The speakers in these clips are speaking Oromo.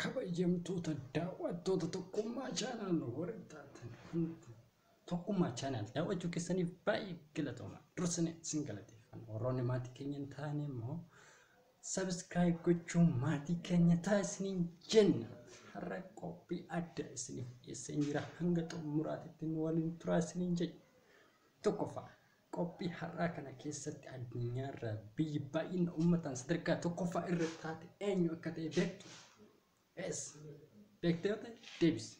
Kabajamtoota daawwattoota Tokkummaa Channel warri taatan hundi Tokkummaa Channel daawwachuu keessaniif baay'ee galatooma. Dursine isin galateeffanna. Warroonni maatii keenya hin taane immoo subscribe gochuun maatii keenya ta'a isiniin jenna. Har'a qophii adda isiniif dhiyeesseen jira. Hanga xumuraatitti nu waliin turaa isiniin jenna. Tokkoffaa Qophii har'aa kana keessatti addunyaarraa biyyi baay'ina uummataan sadarkaa tokkoffaa irra taate eenyu akka ta'e beektu? Yes. Beektee yoo ta'e deebisi.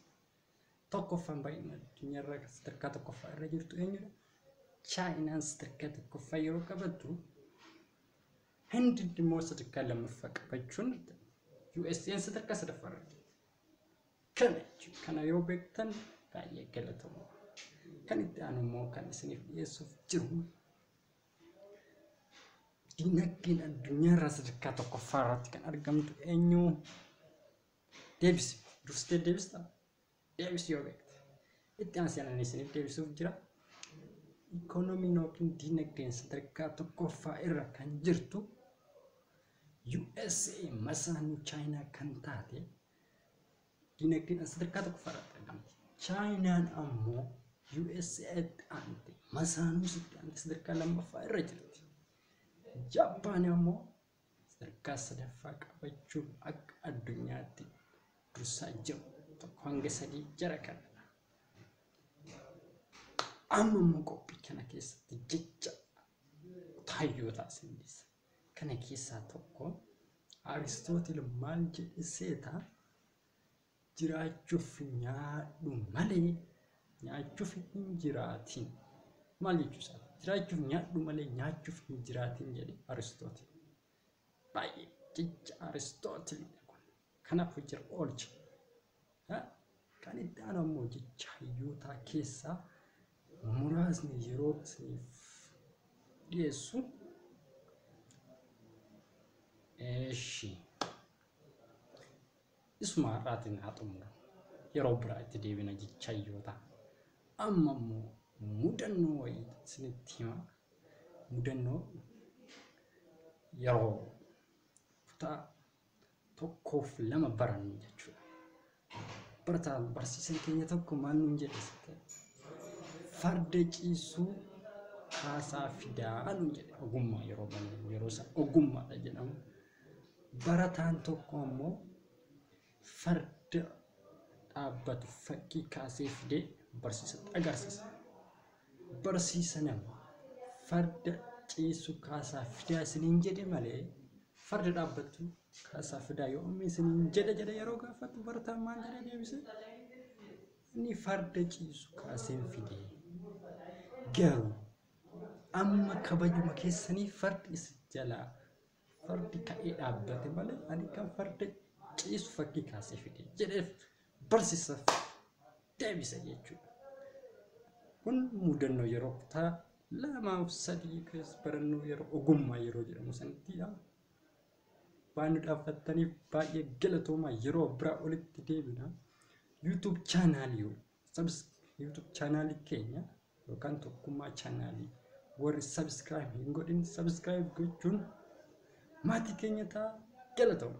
Tokkoffaan baay'ina addunyaarraa kan sadarkaa tokkoffaa irra jirtu eenyudha? Chaayinaan sadarkaa tokkoffaa yeroo qabattu Hindi immoo sadarkaa lammaffaa qabachuun USA'n sadarkaa sadaffaa irra jirti. Kana jechuudha. Kana yoo beektan baay'ee galatooma. Kan itti aanu immoo kan isiniif dhiyeessuuf jiru dinagdeen addunyaa irraa sadarkaa tokkoffaa irratti kan argamtu eenyu? Deebisi. Dursitee deebista? Deebisi yoo beekte. Itti aansee ani isiniif deebisuuf jira. Ikoonomiin yookiin dinagdeen sadarkaa tokkoffaa irra kan jirtu USA masaanuu Chaayinaa kan taate dinagdeedhaan sadarkaa tokkoffaa irratti argamti. Chaayinaan ammoo USA'tti aante, Masaanuusitti aante sadarkaa lammaffaa irra jirti. Jaappaan ammoo sadarkaa sadaffaa qabachuun akka addunyaatti dursaa jiru tokko hanga sadii jara kanadha. Amma immoo qophii kana keessatti jecha taayyoo taasifne. Kana keessaa tokko Aristootil maal jedhe seeta? Jiraachuuf nyaadhu malee nyaachuuf hin jiraatin. Maal jechuu isaati? Jiraachuuf nyaadhu malee nyaachuuf hin jiraatin jedhe Aristootil. Baay'ee jecha Aristootilidha kun. Kanaaf hojirra oolcha. Kan itti aanu ammoo jecha hayyootaa keessaa muraasni yeroo isiniif dhiyeessu. Eeshi. Isuma har'aatiin haa xumuru. Yeroo biraa itti deebina jecha hayyootaa. Amma immoo mudannoo wayii isinitti hima. Mudannoo yeroo kutaa tokkoof lama barannu jechuudha. Barataa barsiisan keenya tokko maal nuun jedhe sitte? Farda ciisuu kaasaa fidaa nuun jedhe ogummaa yeroo bannu yeroo isa ogummaadha jedhamu. Barataan tokko ammoo farda dhaabbatu fakkii kaasee fidee barsiisatti agarsiisa. barsiisa nama farda ciisu kaasaa fidaa isiniin jedhe malee farda dhaabbattu kaasaa fidaa yoomii isiniin jedhe jedhe yeroo gaafatu barataan maal jedhe deebise inni farda ciisu kaaseen fide garuu amma kabajuma keessanii fardi isin jalaa Fardi ka'ee dhaabbate malee ani kan farda ciisu fakkii kaasee fide jedheef barsiisaaf deebise jechuudha. Kun mudannoo yeroo kutaa lamaaf sadii keessa barannoo yeroo ogummaa yeroo jedhamu sanittidha. Waan nu dhaabbattaniif baay'ee galatoomaa yeroo biraa olitti deebina. YouTube chaanaalii Sabs YouTube chaanaalii keenya yookaan tokkummaa chaanaalii warri subscribe hin godhin subscribe gochuun maatii keenya ta'a galatooma.